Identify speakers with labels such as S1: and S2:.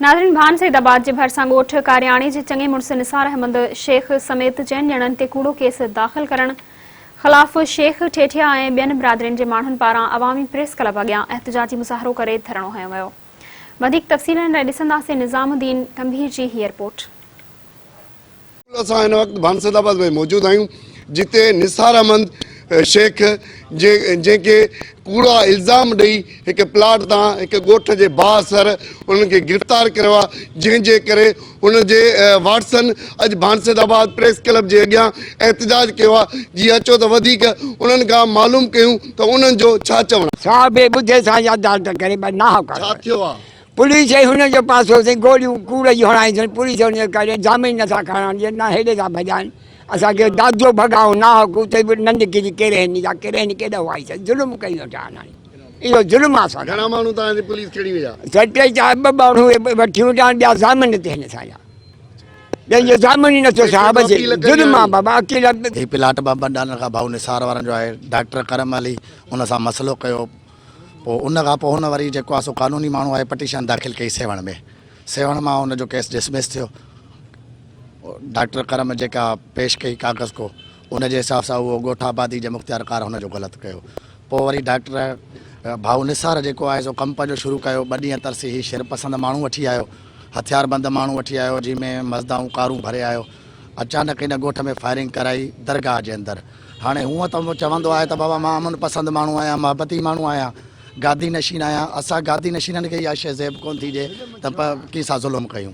S1: ناظرين ڀان سيد آباد جي ڀرسان ڳوٺ ڪارياڻي جي چڱي مڙس نثار احمد شيخ سميت چئن ڄڻن تي ڪوڙو ڪيس داخل ڪرڻ خلاف شيخ ٺيٺيا ۽ ٻين برادرين جي ماڻهن پاران عوامي پريس ڪلب اڳيان احتجاجي مظاهرو ڪري ڌرڻو هنيو ويو وڌيڪ تفصيلن لاء ڏسنداسين نظام الدين ٽنڀي جي هي رپورٽ.
S2: اسان هن وقت ڀانسد آباد ۾ موجود آهيون جتي نثار احمد شيخ جنهن کي ڪوڙا الزام ڏئي هڪ پلاٽ تان هڪ ڳوٺ جي بااثر انهن کي گرفتار ڪريو آهي جنهن جي ڪري ان جي وارثن اڄ ڀانسد آباد پريس ڪلب جي اڳيان احتجاج ڪيو آهي جي اچو ته وڌيڪ انهن کان معلوم ڪيون ته انهن جو ڇا چوڻ آهي. ڇا بي ٻڌي سان ياداشت ڪري ٻه ناحق ڇا ٿيو آهي. پوليس ۽ هن جو
S3: پاسو سين گوليون ڪوڙ جون هڻائينديون پوليس هن جي ڪري جامين نٿا کڻڻ ڏين نه هيڏي ٿا ڀڄائين اسان کي دادو ڀڳائون ناحق اتي به ننڊ ڪري ڪرهن جا ڪرهن ڪيڏا هئا سين ظلم ڪيون وٺان هاڻي اهو ظلم آ سان گهڻا ماڻهو تان جي
S2: پوليس کڻي ويا سر ٽي چار ٻه
S3: ماڻهو وٺي ويان ٻيا ضامن تي هن سان جا جن جو ضامن ئي نٿو صاحب جي ظلم آ بابا اڪيلا هي پلاٽ بابا
S4: ڊالر کان ڀائو نثار وارن جو آهي ڊاڪٽر ڪرم علي ان سان مسئلو ڪيو پوء ان کان پوء هن وري جيڪو آ سو قانوني ماڻهو آهي پٽيشن داخل ڪئي سيوهڻ ۾ سيوهڻ مان ان جو ڪيس ڊسمس ٿيو ڊاڪٽر ڪرم جيڪا پيش ڪئي ڪاغذ ڪو ان جي حساب سان اهو ڳوٺ آبادي جي مختيار ڪار هن جو غلط ڪيو پوء وري ڊاڪٽر ڀائو نثار جيڪو آهي سو ڪم پنهنجو شروع ڪيو ٻه ڏينهن ترسي هي شر پسند ماڻهو وٺي آيو هٿيار بند ماڻهو وٺي آيو جنهن ۾ مزدائون ڪارون ڀري آيو اچانڪ ان ڳوٺ ۾ فائرنگ ڪرائي درگاهه جي اندر هاڻي هونء ته چوندو آهي ته بابا مان امن پسند ماڻهو آهيان، محبتي ماڻهو آهيان، گادي نشين آهيان، اسان گادي نشينن کي اها شيء زيب ڪونه ٿي ڏئي ته پ ڪي سان ظلم ڪيون.